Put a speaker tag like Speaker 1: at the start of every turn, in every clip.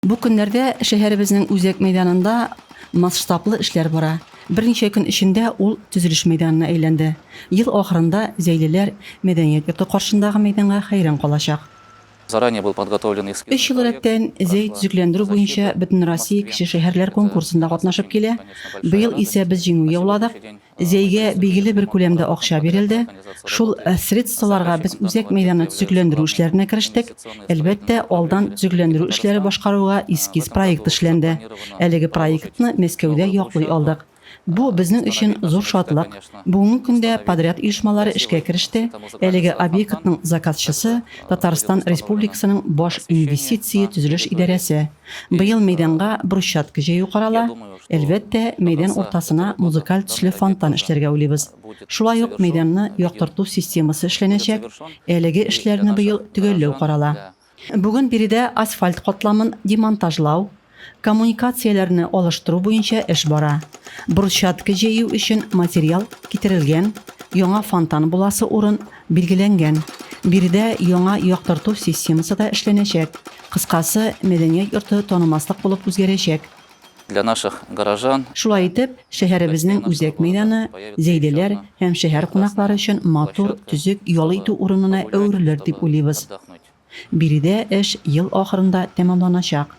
Speaker 1: Бу көннәрдә шәһәребезнең үзәк мәйданында масштаблы эшләр бара. Берничә көн эчендә ул төзелеш мәйданына әйләнде. Ел ахырында зәйлеләр мәдәният йорты каршындагы мәйданга хәйран калачак.
Speaker 2: Өч ел рәттән
Speaker 1: Зәй төзекләндерү буенча Бөтенроссия кече шәһәрләр конкурсында катнашып килә. Быел исә без җиңү яуладык. Зәйгә бигеле бер күләмдә акча бирелде. Шул средстволарга без үзәк мәйданны төзекләндерү эшләренә керештек. Әлбәттә, алдан төзекләндерү эшләре башкаруга эскиз проект эшләнде. Әлеге проектны Мәскәүдә яклый алдык. Бу, безнең өчен зур шатлык. Бүгенге көндә подряд оешмалары эшкә кереште. Әлеге объектның заказчысы, Татарстан Республикасының баш инвестиция-төзелеш идарәсе. Быел мәйданга брусчатка җәю карала. Әлбәттә, мәйдан уртасына музыкаль төсле фонтан эшләргә уйлыйбыз. Шулай ук мәйданны яктырту системасы эшләнәчәк. Әлеге эшләрне быел төгәлләү карала. Бүген биредә асфальт катламын демонтажлау, коммуникацияләрне алыштыру буенча эш бара. Брусчатка җәю өчен материал китерелгән, яңа фонтан буласы урын Билгеләнгән. Биредә яңа яктырту системасы да эшләнәчәк. Кыскасы, мәдәният йорты танымаслык булып үзгәрәчәк. Для наших
Speaker 2: горожан. Шулай итеп,
Speaker 1: шәһәребезнең үзәк мәйданы Зәйдәләр һәм шәһәр кунаклары өчен матур, төзек ял итү урынына әверелер дип уйлыйбыз. Биредә эш ел ахырында тәмамланачак.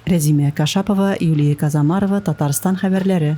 Speaker 1: Рәзимә Кашапова, Юлия Казамарова, Татарстан хәбәрләре.